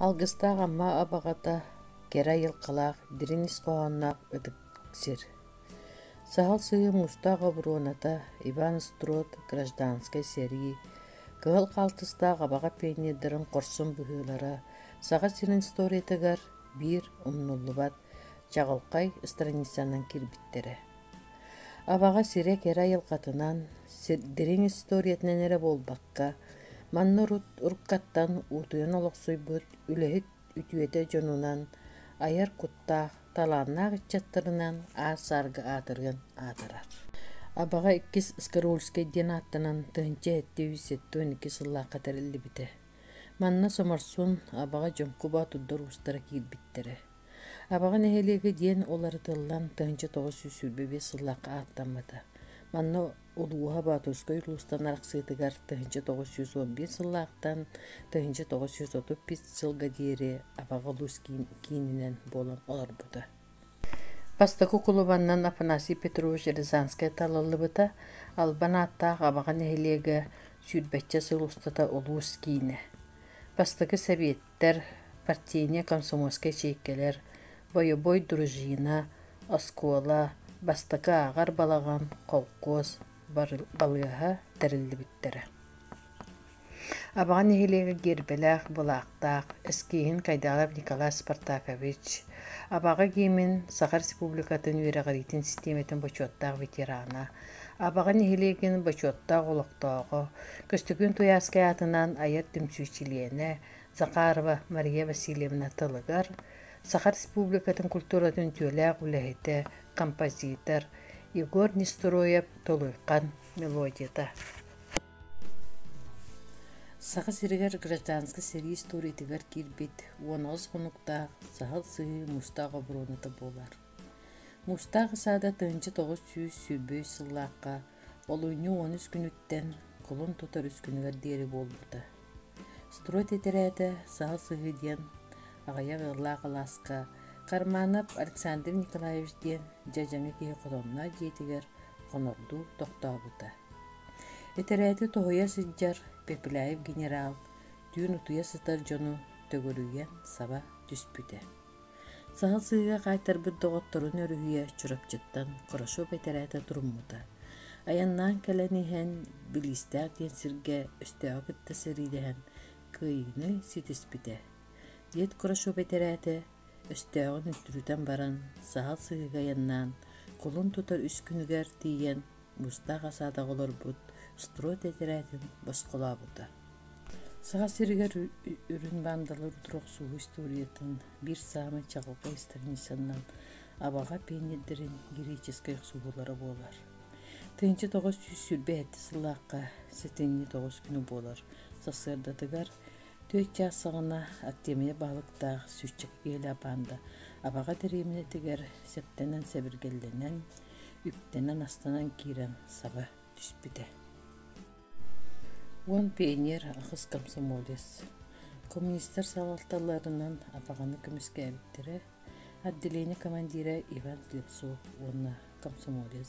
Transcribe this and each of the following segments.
Алгыстаах Амма Абаҕата кэрэ айылҕалаах, дириҥ ис хоһоонноох ытык сир. Саһыл сыһыы муустаах оборуоната, Иван Строд гражданскай сэрии, кыһыл хаалтыстаах абаҕа пионердарын хорсун быһыылара Саха сирин историятыгар биир умнуллубат, чаҕылхай страницанан киирбиттэрэ. Аваҕа сирэ кэрэ айылҕатынан, дириҥ историятынан эрэ буолбакка, манна урут уруккаттан уутуйан олохсуйбут, үлэһит үтүөтэ дьонунан, айар куттаах, талааннаах ыччаттарынан аар-саарга аатырыан аатырар. Аваҕа иккис Скароульскай диэн ааттанан тыһыынча сэттэ үс сэттэ уон икки сыллаахха тэриллибитэ. Манна Соморсун, Аваҕа Дьоҥкубо туддар уустара киирбиттэрэ. Абаҕа нэһилиэгэ диэн уларытыллан тыһыынча тоҕус сүүс сүүрбэ биэс сыллаахха ааттаммыта. Манна улууһа Боотурскай улуустан арахсыытыгар тыһыынча тоҕус сүүс он биир сыллаахтан тыһыынча тоҕус сүүс отут биэс сылга диэри Абаҕа улуус киининэн буолан олорбута. Бастакы кулубаннан Афанасий Петрович Рязанскай талыллыбыта. Албан ааттаах Абаҕа нэһилиэгэ сүүрбэччэ сыл устата улуус киинэ. Бастакы сэбиэт Исписэлиистэр партийнай комсомольскай чиэккэлэр, бойобуой дружина, оскуола, бастакы ааҕар балаҕан, холкуос балыыһа тэриллибиттэрэ. Абаҕа нэһилиэгэ гиэрбэлээх, былаахтаах, эскииһин Кайдалов Николай Спартакович, Абаҕа гиимин Саха Республикатын үөрэҕириитин систиэмэтин бочуоттаах ветерана, Абаҕа нэһилиэгин бочуоттаах олохтооҕо, Көстөкүүн Туйаарскай аатынан айар түмсүү чилиэнэ Захарова Мария Васильевна тылыгар, Саха Республикатын культуратын үтүөлээх үлэһитэ, композитор Егор Нестероев Толуйхан мелодията Саха сиригэр гражданскай сэрии историятыгар киирбит уон аҕыс хонуктаах саһыл сыһыы мустаах оборуоната буолар. Мустаах ысаада тыһынча тоҕус сүүс сүүрбэһис сыллаахха олунньу уон үс күнүттэн кулун тутар үскүнүгэр диэри буолбута. Строй тиэтэрээтэ Саһыл сыһыы диэн аҕыйах ыаллаах алааска Карманов Александр Николаевич диэн дьэдьэҥи киһи хотонно дьиэтигэр хонордуу тохтообута. Итэрээти тоһуйа сылдьар Пепеляев генерал түүн утуйа сытар дьону төгүрүйэн саба түспүтэ. Саһыл сыыга хаайтарбыт доҕотторун өрүһүйэ Чурапчыттан хорошо бэтэрээтэ туруммута. Айаннаан кэлэн иһэн Билиистээх диэн сиргэ өстөөҕү кытта сэриилэһэн кыайыыны ситиспитэ. Дед Хорошо бэтэрээтэ өстөөҕүн үттүрүтэн баран саһыл сыыга айаннаан кулун тутар үс күнүгэр тиийэн Бустаах асаатаҕа олорбут строй тэтэрээтин босхолообута. Саха сиригэр үрүн баандалар утур охсууһу историятын биир саамай чаҕылхай страницанан абаҕа пиэнньэрдэрин греческий охсуһуулара буолар. Тыһыынча тоҕус сүүс сүүрбэ сэттэ сыллаахха сэтинньи тоҕус күнү буолар. Сарсыардатыгар түөрт чаас саҕана Артемия баһылыктаах сүүсчэкэ киһилээх баанда абаҕа дэриэбинэтигэр сэптэнэн сэбиргэллэнэн үктэнэн-астанан киирэн саба түспүтэ уон пионер ахыс комсомолец коммунистар салалталарынан абаҕаны көмүскээбиттэрэ отделение командира иван слепцов уонна комсомолец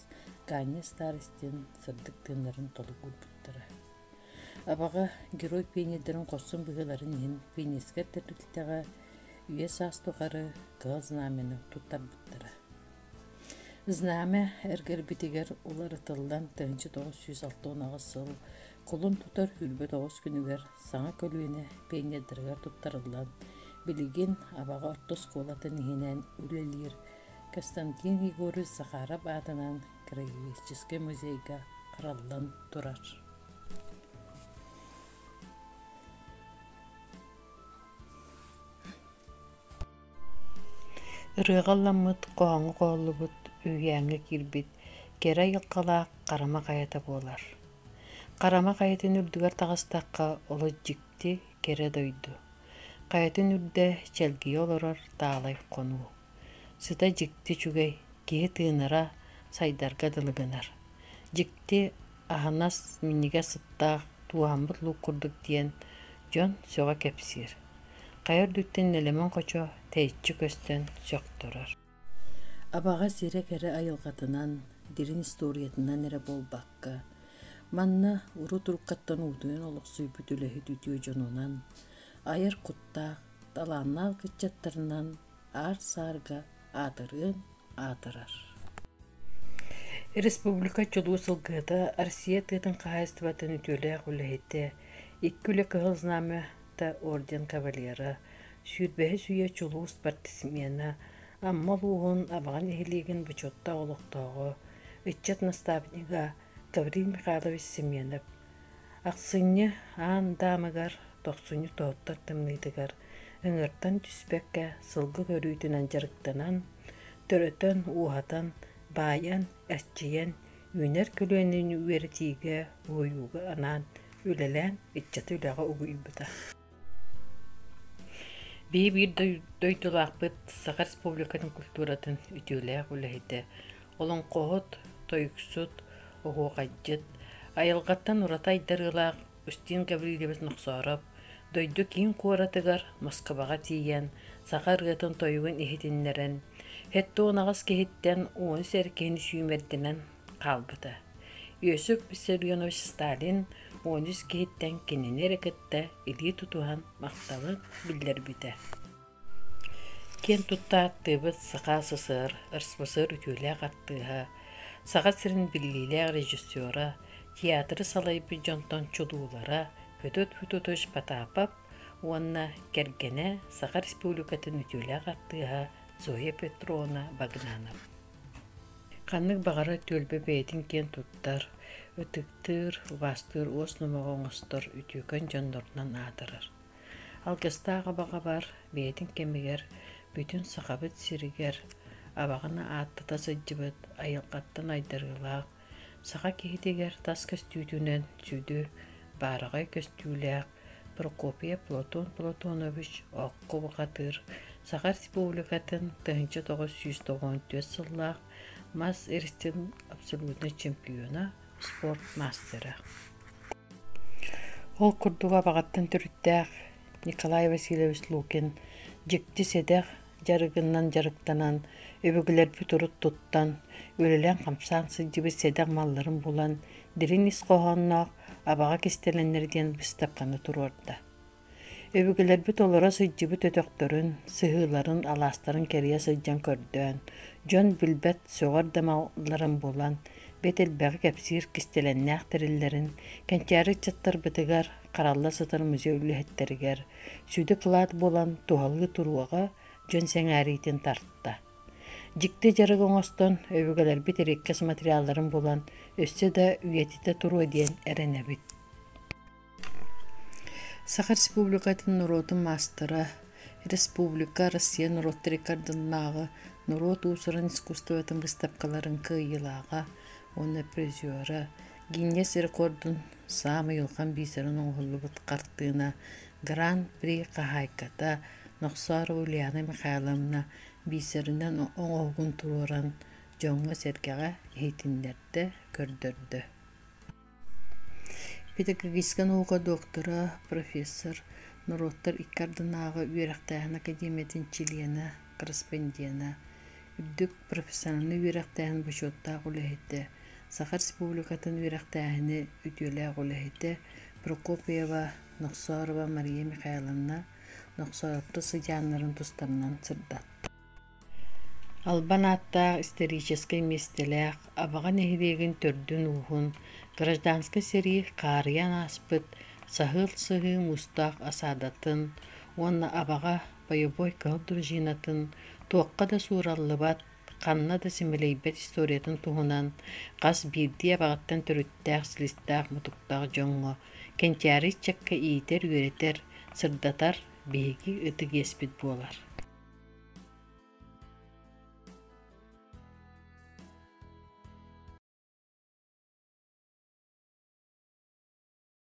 ганя старостин сырдык тыыннарын толук булбуттара абаҕа герой пионердарын хорсун быһыыларын иһин пионерскай тэрилтэҕэ үйэ саас тухары кыһыл знамяны туттарбыттара Знамя эргэрбитигэр уларытыллан тыһыынча тоҕус сүүс алта уон аҕыс сыл кулун тутар үрбүт оҕус күнүгэр саҥа көлүөнэ пионердарыгар туттарыллан, билигин Абаҕа орто оскуолатын иһинэн үлэлиир Константин Егорович Захаров аатынан героическай музейга араллан турар Ырыаҕа ылламмыт, хоһооҥҥо хоһуллубут, үһүйээҥҥэ киирбит кэрэ айылҕалаах Харама хайата буолар. Харама хайатын үрдүгэр таҕыстахха олус дьикти, кэрэ дойду. Хайатын үрдэ чэлгийэ олорор таалай хонуу. Сыта дьикти үчүгэй, киһи тыынара, сайдарга дылы гынар. Дьикти Аһынас минньигэс ыттаах, тууһаммыт луук курдук диэн дьон сөҕө кэпсиир. Хайа үрдүттэн нэлэмэн хочо тэйиччи көстөн сөхтөрөр. Абаҕа сирэ кэрэ айылҕатынан, дириҥ историятынан эрэ буолбакка, манна урут уруккаттан уутуйан олохсуйбут үлэһит үтүө дьонунан, айар куттаах, талааннаах ыччаттарынан аар-саарга аатырыан аатырар Республика чулуу сылгыһыта Россия тыатын хаһаайыстыбатын үтүөлээх үлэһитэ, икки үлэ кыһыл знамята орден кавалера, сүүрбэһис үйэ чулуу спортсмена, Амма улууһун Абаҕа нэһилиэгин бочуоттаах олохтооҕо, ыччат наставнига Гаврил Михайлович Семенов Ахсынньы аан даамыгар тохсунньу тооттор тымныытыгар ыҥыртан түспэккэ сылгы көрүүтүнэн дьарыктанан, төрөтөн, ууһатан, баайан, эрчийэн, үүнэр көлүөнэни үөрэтиигэ, уһуйууга анаан үлэлээн ыччаты үлэҕэ угуйбута Бии биир дойдулаахпыт Саха Республикатын культуратын үтүөлээх үлэһитэ, олоҥхоһут, тойуксут, оһуохайдьыт, айылҕаттан ураты айдарыылаах Устин Гаврильевич Нохсоороп дойду киин куоратыгар Москубаҕа тиийэн саха ырыатын-тойугун иһитиннэрэн, сэттэ уон аҕыс киһиттэн уон үс эр киһини сүүмэрдэнэн хаалбыта. Иосиф Виссарионович Сталин уон үс киһиттэн кинини эрэ кытта илии тутуһан махталы биллэрбитэ. Киэн тутта аттыыбыт Саха СССР РСФСР үтүөлээх артыыһа, Саха сирин биллиилээх режиссера, театры салайбыт дьонтон чулуулара Федот Федотович Потапов уонна кэргэнэ, Саха Республикатын үтүөлээх артыыһа Зоя Петровна Багнанов. Ханнык баҕарар түөлбэ бэйэтин киэн туттар, ытыктыыр, убаастыыр уос номоҕо оҥостор, үтүөкэн дьоннорунан аатырар. Алгыстаах абаҕабар бэйэтин кэмигэр бүтүн Сахабыт сиригэр абаҕаны ааттата сылдьыбыт, айылҕаттан айдарыылаах, Саха киһитигэр тас көстүүтүнэн сүдү, баараҕай көстүүлээх Прокопий Платон Платонович окко бухатыыр Саха Республикатын тыһыынча тоҕус сүүс тоҕуон түөрт сыллаах мас иристин абсолютнай чемпиона, спорт маастара. Ол курдук Абаҕаттан төрүттээх Николай Васильевич Лукин дьикти сэдэх дьарыгынан дьарыктанан, өбүгэлэрбит урут туттан, үлэлээн-хамсаан сылдьыбыт сэдэх малларын булан, дириҥ ис хоһоонноох абаҕа кистэлэннэр диэн быстапканы туруорда. Өбүгэлэрбит олоро сылдьыбыт өтөхтөрүн, сыһыыларын, алаастарын кэрийэ сылдьан көрдөөн, дьон билбэт сөҕөр да малларын булан, бэт элбэҕи кэпсиир кистэлэҥнээх тэриллэрин, кэнчээри ыччаттарбытыгар харалла сытар музей үлэһиттэригэр сүдэ-кылаат буолан туһалыы туруоҕа дьон сэҥээриитин тарта. Дьикти дьарык оҥостон, өбүгэлэрбит ириккэс материалларын булан, өссө да үйэтитэ туруо диэн эрэнэбит. Саха Республикатын норуотун маастара, Республика Россия норуоттар икки ардыннааҕы норуот уусуран искусствотын быыстапкаларын кыайыылааҕа уонна призера Гинья сир-кордун саамай улахан бисерин оҥоһуллубут хартыына Гран-при хаһаайката Нохсоро Ульяна Михайловна бисеринэн оҥоһугун туруоран дьоҥҥо-сэргэҕэ иһитиннэрдэ, көрдөрдө. Педагогическай наука доктора, профессор, норуоттар икки ардынааҕы үөрэхтээһин академиятын чилиэнэ корреспондена, үрдүк профессиональнай үөрэхтээһин бочуоттаах үлэһитэ, Саха Республикатын үөрэхтээһини үтүөлээх үлэһитэ Прокопьева Нохсорова Мария Михайловна Нохсоопто сыдьааннарын тустарынан сырда. Албан ааттаах историческай миэстэлээх Абаҕа нэһилиэгин төрдүн-ууһун гражданскай сэрии хаарыйан ааспыт саһыал сыһыы муустаах асаадатын уонна Абаҕа Пайобой кыһыл дружинатын туохха да суураллыбат, ханна да симэлийбэт историятын туһунан хас биирдии абаҕаттан төрүттээх силистээх-мутуктаах дьоҥҥо, кэнчээри ыччакка иитэр-үөрэтэр, сырдатар биһиги ытык иэспит буолар.